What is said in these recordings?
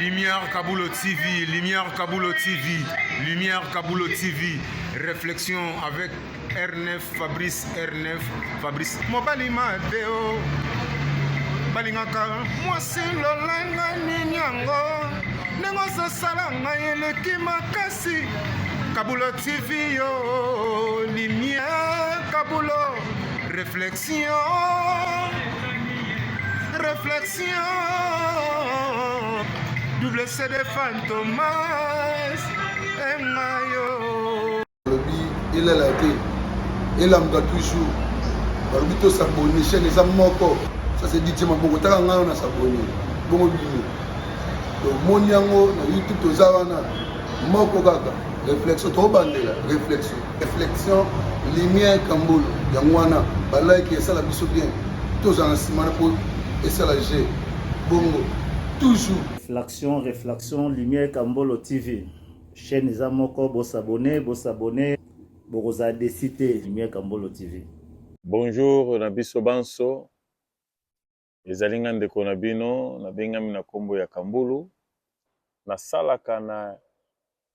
Lumière Kabulo TV, Lumière Kabulo TV, Lumière Kabulo TV, réflexion avec R9, Fabrice R9, Fabrice. Mobali Mateo, balingaka mwasi lolanga nini yango ndenge ozosala ngai eleki makasi Kabulo TV yo, Lumière Kabulo, réflexion. Réflexion, double CD Fantomas, et Mayo. Il est là, il est là, toujours. balobi tosabone chaine eza moko ça c'est dit tima bongo taka ngai na sabone bongo bino tomoni yango na youtube toza wana moko kaka réflexion tobandela réflexion Reflexion Lumière Kambolo yango wana ba like esala biso bien tozala na nsima na po esala je bongo toujours Reflexion Reflexion Lumière Kambolo TV chaîne eza moko bosabone bosabone bokozala desi te Lumière Kambolo TV. Bonjour na biso banso. Ezali nga ndeko na bino na bengami na kombo ya Kambulu. Na salaka na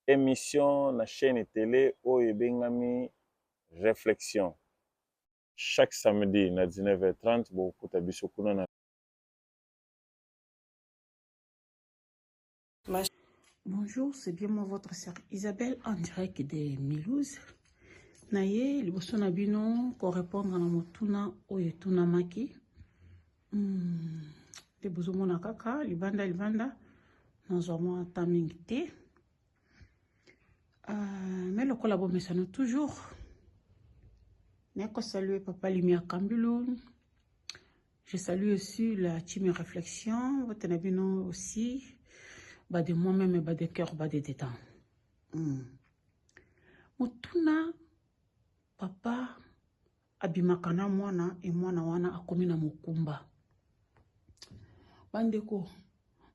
emission na chaîne tele oyo ebengami Reflexion. Chaque samedi na 19h30 bokuta biso kuna na Bonjour, c'est bien moi votre sœur Isabelle en direct de Milouse. Naye liboso na bino ko répondre na motuna oyo etunamaki. Hmm, te bozomona kaka libanda libanda nazwa mwa ata mingi te. Euh, mais lokola bomesano toujours nako salue papa Limia Kambulun Je salue aussi la team réflexion, votre nabino aussi, bas de moi-même, bas de cœur, bas de détente. Hmm. Motuna, papa, abimaka na mwana e mwana wana akomi na mokumba bandeko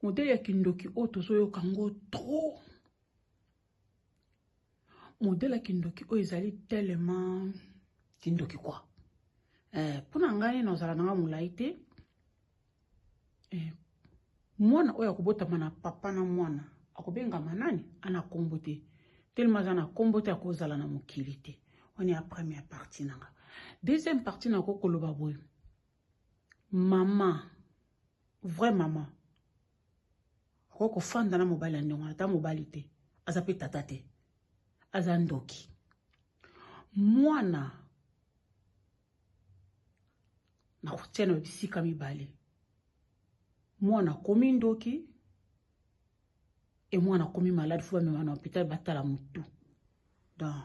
modele ya kindoki oyo tozoyoka ngo trop modele ya kindoki oyo ezali tellement kindoki kwa eh, mpo na ngai nazala na ngai molai te eh, mwana oyo akobotama na papa na mwana akobengama nani ana nkombo te telema aza na nkombo te akozala na mokili te wana ya première partie na nga deuxième partie nako koloba boye mama vrai mama Okoki kofanda na mobali ya ndongo ata mobali te aza mpe tata te aza ndoki mwana na kotia na bisika mibale mwana akomi ndoki e mwana akomi malade fo bamema na hôpital batala motu donc